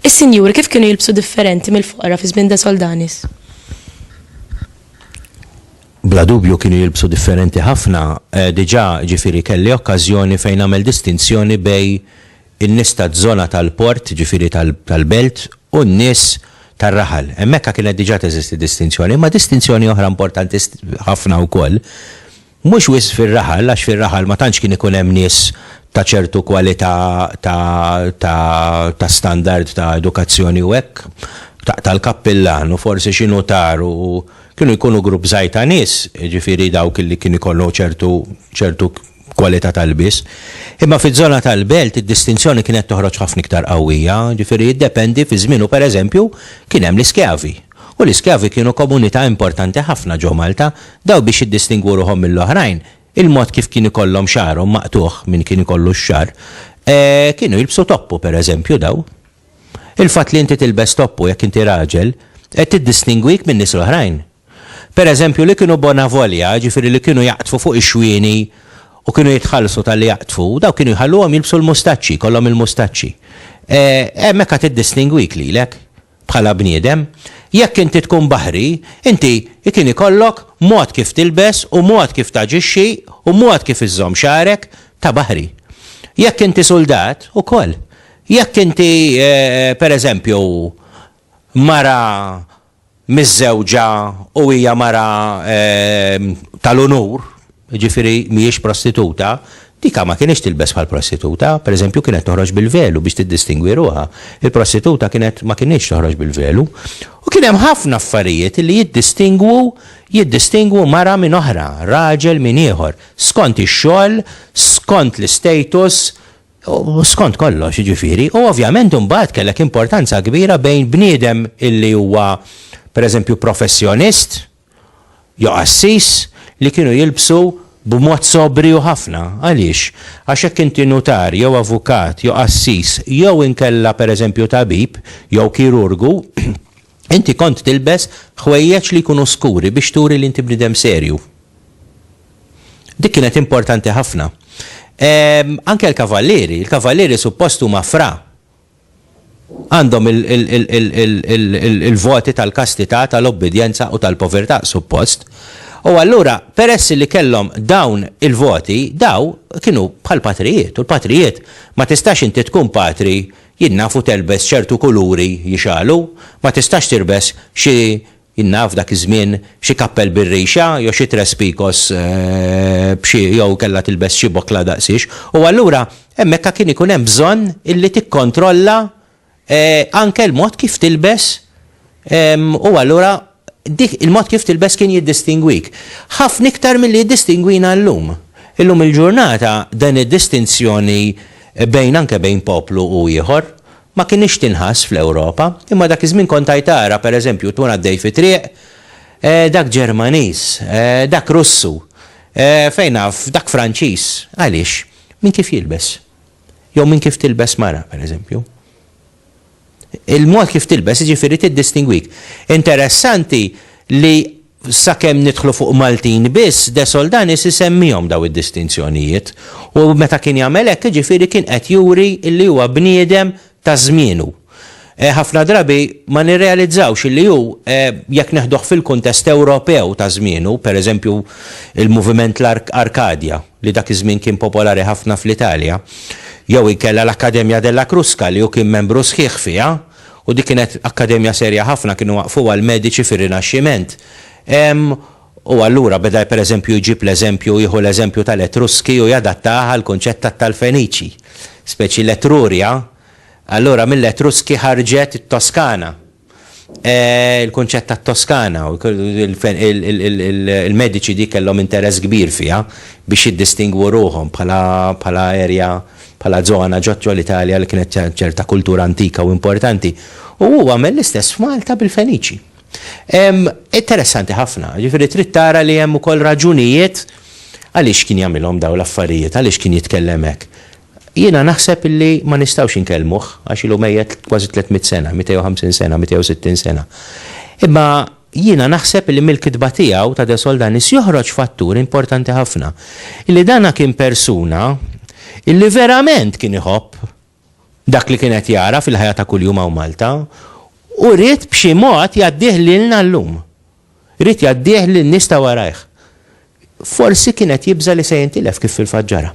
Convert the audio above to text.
Is-sinjuri kif kienu jilbsu differenti mill-foqra fi żmien Soldanis? Bla dubju kienu jilbsu differenti ħafna, eh, diġà ġifieri kelli okkażjoni fejn nagħmel distinzjoni bej in-nies taż-żona tal-port, jiġifieri tal-belt, u n-nies tar-raħal. Hemmhekk kienet diġà teżisti distinzjoni, imma distinzjoni oħra importanti ħafna wkoll, mhux wisq fir-raħal, għax fir-raħal ma tantx kien ikun hemm nies ta' ċertu kwalità ta' standard ta' edukazzjoni u hekk, taqta' l-kappillan u forsi xi nutar u kienu jkunu grupp żgħir ta' nies, jiġifieri dawk li kien ikollhom ċertu kwalità tal-lbies. Imma fiż-żona tal-Belt id-distinzjoni kienet toħroġ ħafna iktar qawwija, jiġifieri jiddependi fi żmienu pereżempju kien hemm l-iskjavi, u l-iskjavi kienu komunità importanti ħafna ġo Malta, dawn biex jiddistingwu ruħhom mill-oħrajn, il-mod kif kien ikollhom xagħarhom maqtugħ, min kien ikollu x-xagħar, kienu jilbsu toppu pereżempju daw. Il-fatt li inti tilbes toppu jekk inti raġel, qed tiddistingwik min-nies l-oħrajn. Per eżempju, li kienu bona volja, jiġifieri li kienu jaqdfu fuq ix-xwieni u kienu jitħallsu talli jaqdfu, dawk kienu jħalluhom jilbsu l-mustaċċi, jkollhom il-mustaċċi. E, hemmhekk għad iddistingwik lilek, bħala bniedem. Jekk inti tkun baħri, inti kien ikollok mod kif tilbes u mod kif taġixxi u mod kif iżżomm xagħrek ta' baħri. Jekk inti suldat, ukoll. Jekk inti, e, per eżempju, mara miżżewġa u hija mara tal-unur, jiġifieri mhijiex prostituta, dika ma kinitx tilbes bħal prostituta, pereżempju kienet toħroġ bil-velu biex tiddistingwi ruħha. Il-prostituta kienet ma kinitx toħroġ bil-velu. U kien hemm ħafna affarijiet li jiddistingwu jiddistingwu mara minn oħra, raġel minn ieħor, skont ix-xogħol, skont l-istatus, U skont kollox, jiġifieri, u ovvjament imbagħad kellek importanza kbira bejn bniedem illi huwa pereżempju professjonist jew qassis li kienu jilbsu b'mod sobriju ħafna. Għaliex? Għax jekk inti nutar jew avukat jew qassis jew inkella pereżempju tabib jew kirurgu, Inti kont tilbes ħwejjeġ li jkunu skuri biex turi li inti bniedem serju. Dik kienet importanti ħafna. Anke l-kavallieri, il-kavallieri suppost huma fra. Għandhom il-voti tal-kastità, tal-obbidjenza u tal-povertà, suppost. U allura, peress li kellhom dawn il-voti, daw kienu bħall-patrijiet. U l-patrijiet, ma tistax inti tkun patri Jien naf u telbes ċertu kuluri jixgħalu, ma tistax tirbes xi, jien naf dak iż-żmien, xi kappell bir-rixa jew xi tres picos b'xi jew kellha tilbes xi bokla daqsiex. U allura hemmhekka kien ikun hemm bżonn illi tikkontrolla anke l-mod kif tilbes U allura dik il-mod kif tilbes kien jiddistingwik. Ħafna iktar milli jiddistingwina llum. Illum il-ġurnata din id-distinzjoni bejn anke bejn poplu u ieħor ma kinitx tinħass fl-Ewropa. Imma dak iż-żmien kont għaj tara, per eżempju, tkun għaddej fi triq, eh, dak Ġermaniż, eh, dak Russu, eh, fejn naf, dak Franċiż. Għaliex? Minn kif jilbes. Jew minn kif tilbes mara, per eżempju. Il-mod kif tilbes jiġifieri tiddistingwik. Interessanti li sakemm nidħlu fuq Maltin biss, De Soldanis isemmihom dawn id-distinzjonijiet. U meta kien jagħmel hekk jiġifieri kien qed juri li huwa bniedem ta' żmienu. Ħafna drabi ma nirrealizzawx li hu, jekk neħduh fil-kuntest Ewropew ta' żmienu, pereżempju l-moviment Arkadja. li dak iż-żmien kien popolari ħafna fl-Italja, jew inkella l-Accademia della Crusca li hu kien membru sħiħ fiha, u dik kienet akkademja serja ħafna, kienu waqqfuha l-mediċi fir-Rinaxximent. Ehm, u allura beda pereżempju jġib l-eżempju, jieħu l-eżempju tal-Etruski u jadattah għall-kunċett tat-tal-Feniċi. Speċi l-Etruria, allura mill-Etruski ħarġet it-Toskana. Il-kunċett tat-Toskana, il-mediċi dik kellhom interess kbir fiha biex jiddistingwu ruħhom bħala area, bħala żona ġo l-Italja li kienet ċerta kultura antika u importanti. U hu għamel l-istess f'Malta bil-Feniċi. Interessanti ħafna, jiġifieri trid tara li hemm ukoll raġunijiet għaliex kien jagħmilhom dawn l-affarijiet, għaliex kien jitkellem hekk. Jiena naħseb li ma nistgħux inkellmuh għax ilu mejjet kważi tliet mitt sena, 250 sena, 260 sena. Imma jiena naħseb li mill-kitba tiegħu ta' De Soldanis joħroġ fattur importanti ħafna, illi dan kien persuna illi verament kien iħobb dak li kien qed jara fil-ħajja ta' kuljum hawn Malta u ried b'xi mod jgħaddih lilna llum. Ried jgħaddih lin-nies ta' warajh. Forsi kien qed jibża' li se jintilef kif fil-fatt ġara.